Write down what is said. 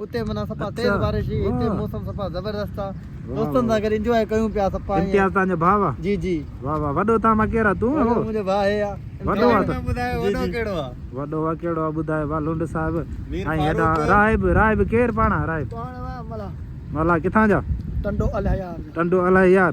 اتي منا سپا تيز بارش ھئي اتي موسم سپا زبردست آ دوستن سان گڏ انجواء ڪيون پيا سپا ائين امتياز تان جو ڀاء آ جي جي واه واه وڏو تان مان ڪير آ تون وڏو منھنجو ڀاء ھي آ وڏو آ تون ٻڌايو وڏو ڪھڙو آ وڏو آ ڪھڙو آ ٻڌايو وا لنڊ صاحب ۽ ھيڏا راھب راھب ڪير پاڻ راھب پاڻ وا ملاح ملاح ڪٿان جا ٽنڊو الھيار جا ٽنڊو الھيار